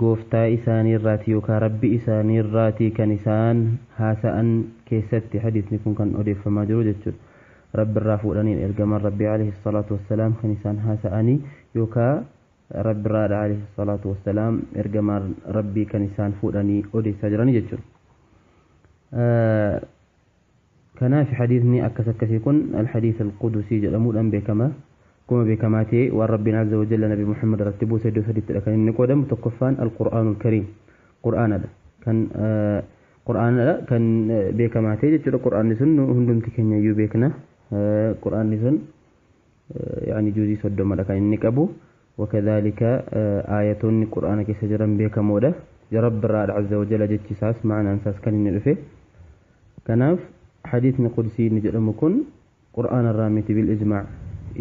Gooftaa isaanii irraati yookaa Rabbi isaanii irraati kan isaan haasa'an keessatti hadiisni kun kan odeeffamaa jiru jechuudha. Rabbi irraa fuudhaniin ergamaan Rabbii aleyhi salaatu wassalaam kan isaan haasa'anii yookaa Rabbi irraadha aleyhi salaatu wassalaam ergamaan Rabbii kan isaan fuudhanii odeessaa jiranii jechuudha. Kanaafi hadiisni akkas akkasii kun Al-Hadiis Al-Qudusii jedhamuudhaan beekama. Akkuma beekamaa ta'e waan Rabbiin Azza wa Jalla Nabi Muhammad irratti buuse iddoo sadittidha kan inni qoodamu. Tokkoffaan Al-Qur'aanul Kariim, Qur'aanadha. Kan Qur'aanadha kan beekamaa ta'e jechuudha. Qur'aanni sun nu hundumti keenya iyyuu beekna. Qur'aanni sun yaani juuzii soddomadha kan inni qabu. Wakadhaalika aayatoonni Qur'aana keessa jiran beekamoodha. Rabbi irraa azza wa jalla jechi isaas ma'anaan isaas kan inni dhufe. Kanaaf hadiisni qudsii inni jedhamu kun Qur'aana irraa miti bil ijmaa'.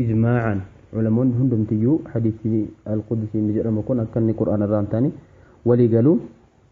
Ijmaa'aan ulamoonni hundumtiyyuu hadiisni al-qudsii inni jedhamu kun akka inni Qur'aana irraa hin taane walii galu.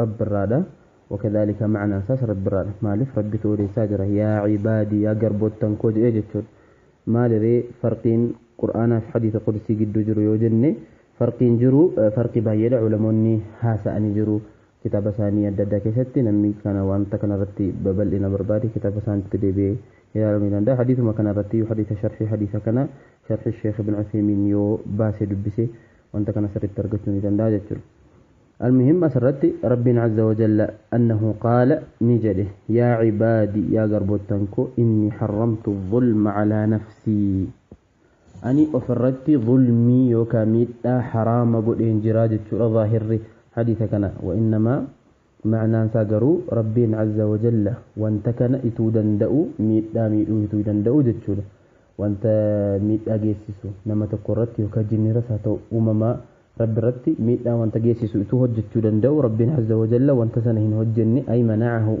Rabbi irraadha. Wakadhaalika ma'anaan isaas Rabbi irraadha. Maaliif? Rabbitu odeessaa jira. Yaa cibaadii, yaa garboottan koo jedhee jechuudha. Maaliree farqiin Qur'aanaa fi hadiisa qudusii gidduu jiru yoo jenne farqiin jiru farqii baay'eedha. Ulamoonni haasa'anii jiru kitaaba isaanii adda addaa keessatti. Namni kana wanta kana irratti babal'ina barbaade kitaaba isaaniitti deebi'ee ilaaluu ni danda'a. Hadiisuma kana irratti iyyuu hadiisa sharhii hadiisa kana sharhii Sheekh Ibn Uthaymiin yoo baasee dubbise wanta kana sirritti argachuu ni danda'a jechuudha almuhim asirratti rabbiin azza wajalla annahu qaala ni jedhe yaa cibaadi yaa garboottan koo inni harramtu zulma calaa nafsii ani ofirratti zulmii yookaa miidhaa haraama godheen jiraa jechuudha zaahirri hadiisa kana wainnamaa Ma'naan isaa garuu Rabbiin azza wa jalla wanta kana ituu danda'u miidhaa miidhuu ituu danda'u jechuudha. Wanta miidhaa geessisu nama tokko irratti yookaa jinniras haa ta'u uumamaa Rabbi irratti miidhaa wanta geessisu ituu hojjachuu danda'u Rabbiin azza wa jalla wanta sana hin hojjenne ay mana'ahu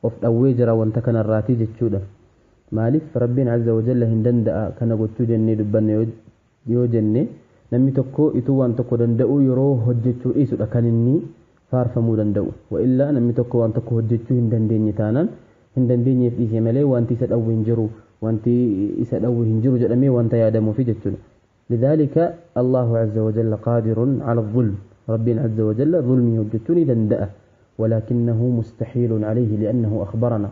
of dhawwee jira wanta kana irraati jechuudha. Maalif Rabbiin azza wa jalla hin danda'a kana gochuu jennee dubbanna yoo yoo jenne namni tokko ituu waan tokko danda'uu yeroo hojjechuu dhiisudha kan inni faarfamuu danda'u. Wa'illaa namni tokko waan tokko hojjechuu hin dandeenye taanaan hin dandeenyeef dhiisee malee waanti isa dhawwe hin jiru, waanti isa dhawwe hin jiru jedhamee waanta yaadamuufi jechuudha. Lidhaalika Allaahu azza wa jalla qaadirun ala dhulm Rabbiin azza wa jalla dhulmii hojjechuu ni danda'a. Walaakinnahu mustahiilun alayhi li'annahu akhbaranaa.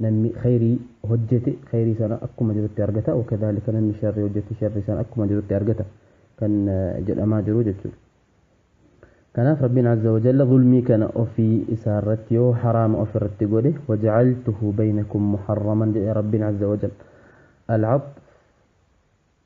Namni khayrii hojjete khayrii sana akkuma jirutti argata, wakadhaalika namni sharrii hojjete sharrii sana akkuma jirutti argata kan jedhamaa jiru jechuudha. Kanaaf Rabbiin azza wa jalla zulmii kana ofii isaarratti yoo haraama ofirratti godhe wajacaltuhu baynakum muharraman jedhe Rabbiin azza wa jalla. Al-Atf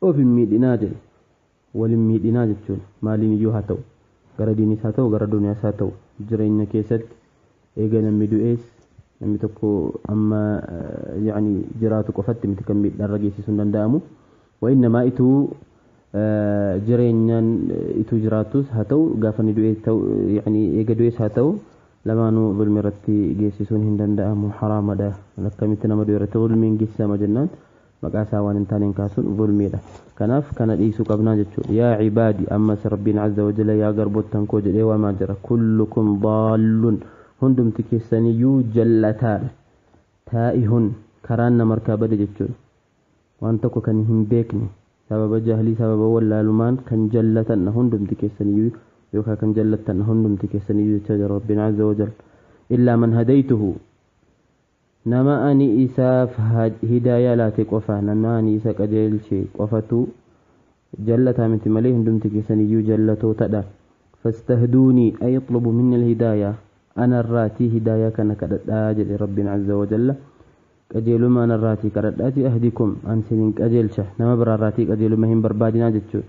Of hin miidhinaa jedhe. Wal hin miidhinaa jechuun maaliin iyyuu haa ta'u, gara diiniis haa ta'u, gara duniyaas haa ta'u, jireenya keessatti eega namni du'ees namni tokko amma ya'ni jiraatu qofatti miti kan miidhaa irra geessisuun danda'amu. Wa innamaa ituu jireenyaan ituu jiraatuus haa ta'u, gaafa inni du'ees ta'u, ya'ni eega du'ees haa ta'u, lamaanuu zulmi irratti geessisuun hin danda'amu, haraamadha. Akkamitti nama du'e irratti zulmiin geessisama jennaan? maqaa isaa waan hin taaneen kaasuun zulmiidha. Kanaaf kana dhiisuu qabnaa jechuudha. Yaa cibaadi ammas Rabbiin azza wa jalla yaa garboottan koo jedhee waamaa jira. Kullukum daallun hundumti keessaniyyuu jallataadha. Taa'ihun karaan nama harkaa bade jechuudha. Waan tokko kan hin beekne sababa jahlii sababa wallaalumaan kan jallatandha hundumti keessaniyyuu yookaan kan jallattandha hundumti keessaniyyuu jechaa jira Rabbiin azza wa jalla. Illaa man hadaytuhu Nama ani isaaf hidaayaa laate qofa, nama ani isa qajeelche qofatu jallataa miti malee hundumti keessan iyyuu jallatootadha. Fastahduunii ay ixlubu minni alhidaaya ana irraatii hidaayaa kana kadhadhaa jedhe Rabbiin azza wa jalla. Qajeelumma ana irraatii kadhadhaatii ahdikum an sinin qajeelcha. Nama biraa irraatii qajeelumma hin barbaadinaa jechuudha.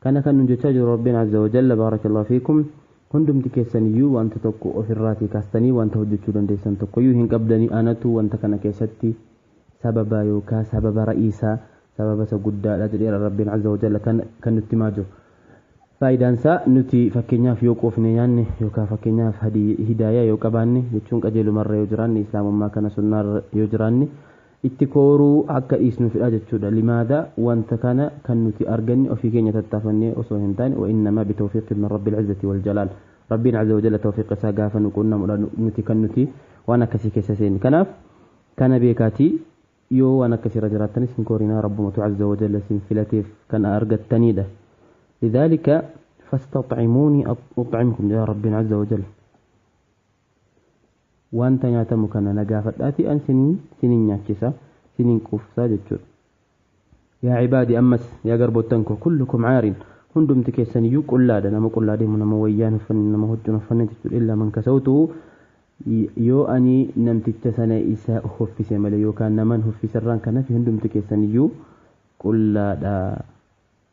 Kana kan nun jechaa jiru Rabbiin Azza wa Jalla Baarakallahu Fiikum hundumti keessaniyyuu wanta tokko of irraatii kaastanii wanta hojjechuu dandeessan tokkoyyuu hin qabdanii anatu wanta kana keessatti sababa yookaa sababa ra'iisa sababa isa guddaadha jedheera Rabbiin Azza wa Jalla kan kan nutti himaa jiru. Faayidaan isaa nuti fakkeenyaaf yoo quufne nyaanne yookaa fakkeenyaaf hadi hidaayaa yoo qabaanne jechuun qajeelumarra yoo jiraanne islaamummaa kana sunnaarra yoo jiraanne Itti kooruu akka dhiisnuufidha jechuudha. Limaada wanta kana kan nuti arganne ofii keenya tattaafannee osoo hin taane, wa innamaa bi tawfiiqin min Rabbil Izzati wal Jalaal. Rabbiin Azza wa Jalla tawfiiqa isaa gaafa nu quunnamudha nuti kan nuti waan akkasii keessa seenne. Kanaaf kana beekaatii yoo waan akkasii irra jiraattanis hin koorinaa Rabbumatu Azza wa Jalla isin filateef kan argattaniidha. Lidhaalika fastaxcimuunii uxcimkum jedha Rabbiin Azza wa Jalla. Wanta nyaatamu kana na gaafadhaatii an siniin, siniin nyaachisa, siniin quufsa jechuudha. Yaa cibaadii ammas, yaa garboottan koo, kullukum caarin, hundumti keessaniyyuu qullaadha, nama qullaa deemu, nama wayyaa hin uffanne, nama huccuu hin uffanne jechuudha. Illaa man kasawtuhu, yoo ani namticha sana isa huffise malee, yookaan naman huffiserraan kan hafe hundumti keessaniyyuu qullaadha.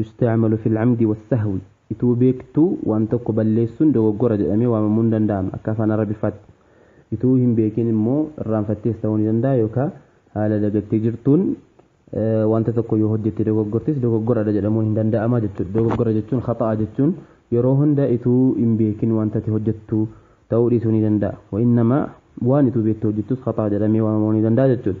yustacmalu fi lcamdi walsahwi ituu beektuu waan tokko balleessun dogoggora jedhamee waamamuu ni danda'ama akka afaan arabiffaatti ituu hin beekin immoo irraanfattees ta'uu ni danda'a yookaa haala dagattee jirtuun wanta tokko yoo hojjette dogoggortis dogoggoradha jedhamuun hin danda'ama jechuudha dogoggora jechuun khaxa'a jechuun yeroo hunda ituu hin beekin wanta ati hojjettu ta'uu dhiisuu ni danda'a wa'innama waan ituu beektu hojjettus khaxa'a jedhamee waamamuu ni danda'a jechuudha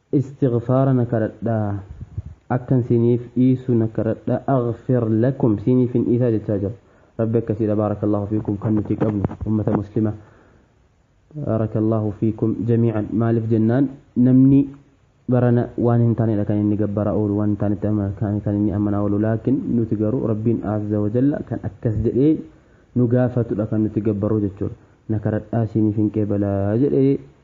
Istighfaara na kadhadha akkan siiniif dhiisu na kadhadha aghfir lakum siiniifin dhiisaa jechaa jira rabbi akkasiidha baarakallaahu fiikum kan nuti qabnu ummata muslima baarakallaahu fiikum jamii'an maaliif jennaan namni barana waan hin taanedha kan inni gabbaraa oolu waan hin taanetti amana- kan kan inni amanaa oolu laakin nuti garuu rabbiin azza wa jalla kan akkas jedhee nu gaafatudha kan nuti gabbarru jechuudha na kadhadhaa siiniifin qeebalaa jedhee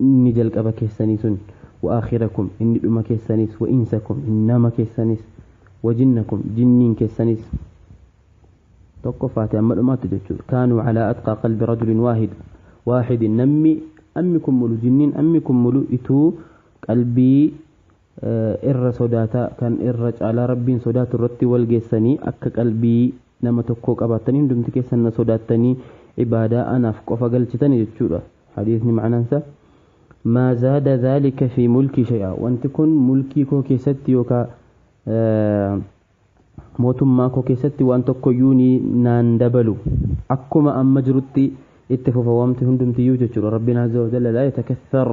Inni jalqaba keessanii sun, wa aakhirakum, inni dhuma keessaniis, wa insakum, nama keessaniis, wa jinnakum, jinniin keessaniis, tokkoffaati amma dhumaatti jechuudha, kaanuu calaa atqaa qalbi rajulin waahid, waahidin, nammi ammi kun mulu, jinniin ammi kun mulu ituu qalbii irra sodaata kan irra caalaa rabbiin sodaatu irratti wal geessanii akka qalbii nama tokkoo qabaattanii hundumti keessan na sodaattanii ibaadaa anaaf qofa galchitani jechuudha hadiisni ma'anaansa maa zaada dhaalika fi mulkii shay'aa wanti kun mulkii koo keessatti yookaa Mootummaa koo keessatti waan tokkoyyuu ni naan dabalu. Akkuma amma jirutti itti fufa waamti hundumtiyyuu jechuudha. Rabbiin Azza wa Jalla laa yatakatthar.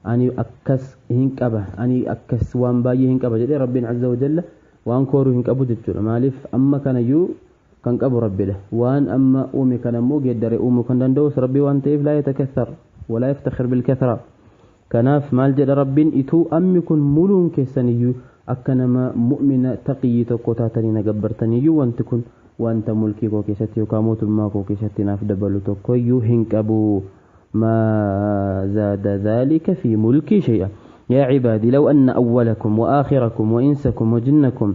Ani akkas hin qaba. Ani akkas waan baay'ee hin qaba jedhee Rabbiin Azza wa Jalla waan kooru hin qabu jechuudha. Maaliif amma kanayyuu kan qabu Rabbidha. Waan amma uume kanammoo geeddare uumuu kan danda'us Rabbi waan ta'eef laa yatakatthar. Walaa yaftakhir bilkathra. Kanaaf maal jedha Rabbiin ituu ammi kun muluun keessaniyyuu akka nama mu'mina taqiyyii tokkoo taatanii na gabbartaniyyuu wanti kun wanta mulkii koo keessatti yookaa mootummaa koo keessatti naaf dabalu tokkoyyuu hin qabu maa zaada dhaalika fii mulkii shay'a yaa cibaadii law anna awwalakum wa aakhirakum wa insakum wa jinnakum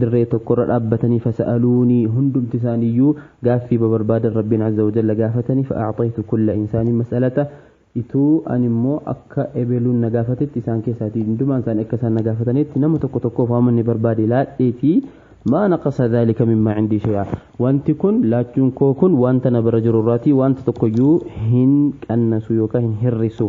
dirree tokkorra dhaabbatanii fasa'aluunii hundumti isaaniiyyuu gaaffii babarbaadan Rabbiin azza wa jalla gaafatanii fa'a'xaytu kulla insaanin mas'alata ituu ani immoo akka ebeluun na gaafatetti isaan keessaatii hundumaan isaanii akka isaan na gaafatanitti nama tokko tokkoof waan inni barbaade laadheetii maa naqasa dhaalika mimmaa cindii shay'a wanti kun laachuun koo kun wanta na bira jiru irraatii wanta tokkoyyuu hin qannasu yookaan hin hirrisu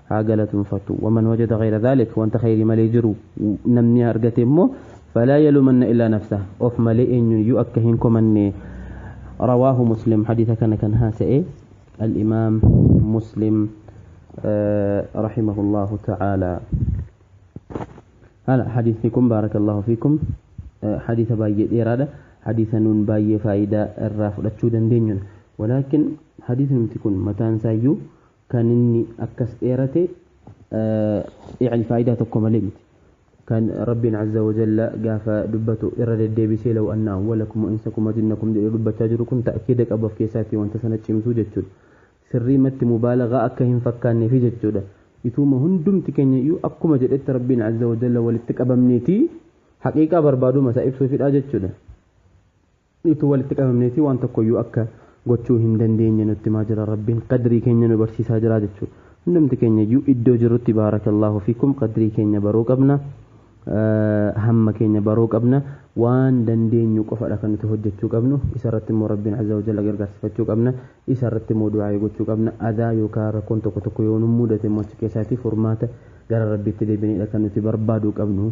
haa galatomfatu waman wajada ghayra dhalik wanta khayri malee jiru namni argate immoo falaa yalumanna illaa nafsa of malee eenyun iyyuu akka hin komanne rawaahu muslim hadiisa kana kan haasa'e al-imaam muslim rahimahullahu ta'ala hala hadiisni kun baarakallahu fiikum hadiisa baay'ee dheeraadha hadiisa nuun baay'ee faayidaa irraa fudhachuu dandeenyudha walaakin hadiisni nuti kun mataan isaayyuu kan inni akkas dheerate yani faayidaa tokko malee miti kan rabbiin azza wa jalla gaafa dubbatu irra deddeebisee law anna awwalakum wa insakum wa jinnakum jedhee dubbachaa jiru kun ta'kiida qabu of keessaatti wanta sana cimsuu jechuudha sirrii matti mubaalagaa akka hin fakkaanneefi jechuudha ituuma hundumti keenya iyyuu akkuma jedhetti rabbiin azza wa jalla walitti qabamneeti haqiiqaa barbaaduma isaa ibsuufidha jechuudha Utuu walitti qabamneetii waan tokkoyyuu akka gochuu hin dandeenye nutti himaa jira Rabbiin. Qadrii keenya nu barsiisaa jira jechuudha. Hundumti keenyayyuu iddoo jirrutti baarakallaahu fiikum qadrii keenya baruu qabna, hamma keenya baruu qabna, waan dandeenyu qofadha kan nuti hojjechuu qabnu, isarratti immoo Rabbiin azza wa jalla gargaarsifachuu qabna, isarratti immoo du'aa'ii gochuu qabna, adaa yookaa rakkoon tokko tokko yoo nu mudate immoo achi keessaatii furmaata gara Rabbiitti deebineedha kan nuti barbaaduu qabnu.